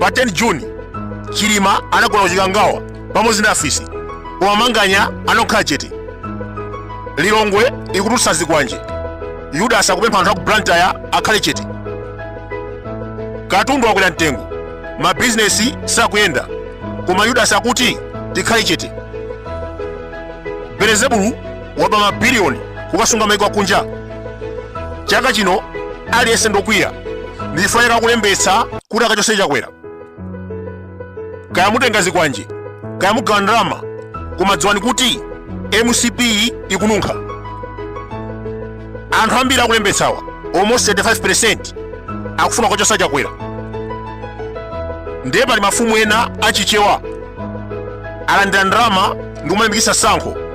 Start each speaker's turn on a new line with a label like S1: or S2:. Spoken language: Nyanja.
S1: pa 10 juni chilima anagona ku chikangawa pamodzi ndi afisi koma manganya anakhala chete lilongwe ikutulutsa zikwanje yudasi akupempha anthu aku blantyre akhale chete katundu wakwera mtengo mabizinesi sakuyenda koma yudasi akuti tikhale chete belezebulu waba mabiliyoni kukasunga maiko akunja chaka chino aliyense ndokwiya ndi chifuniro cholembetsa kuti akachose chakwera kaya mutenga zikwanje kaya mugawa ndalama koma dziwani kuti mcp ikununkha anthu ambiri akulembetsawa almost 35% akufuna kukachosa chakwera ndiye pali mafumu ena achichewa alandira ndalama ndikumalimbikitsa sankho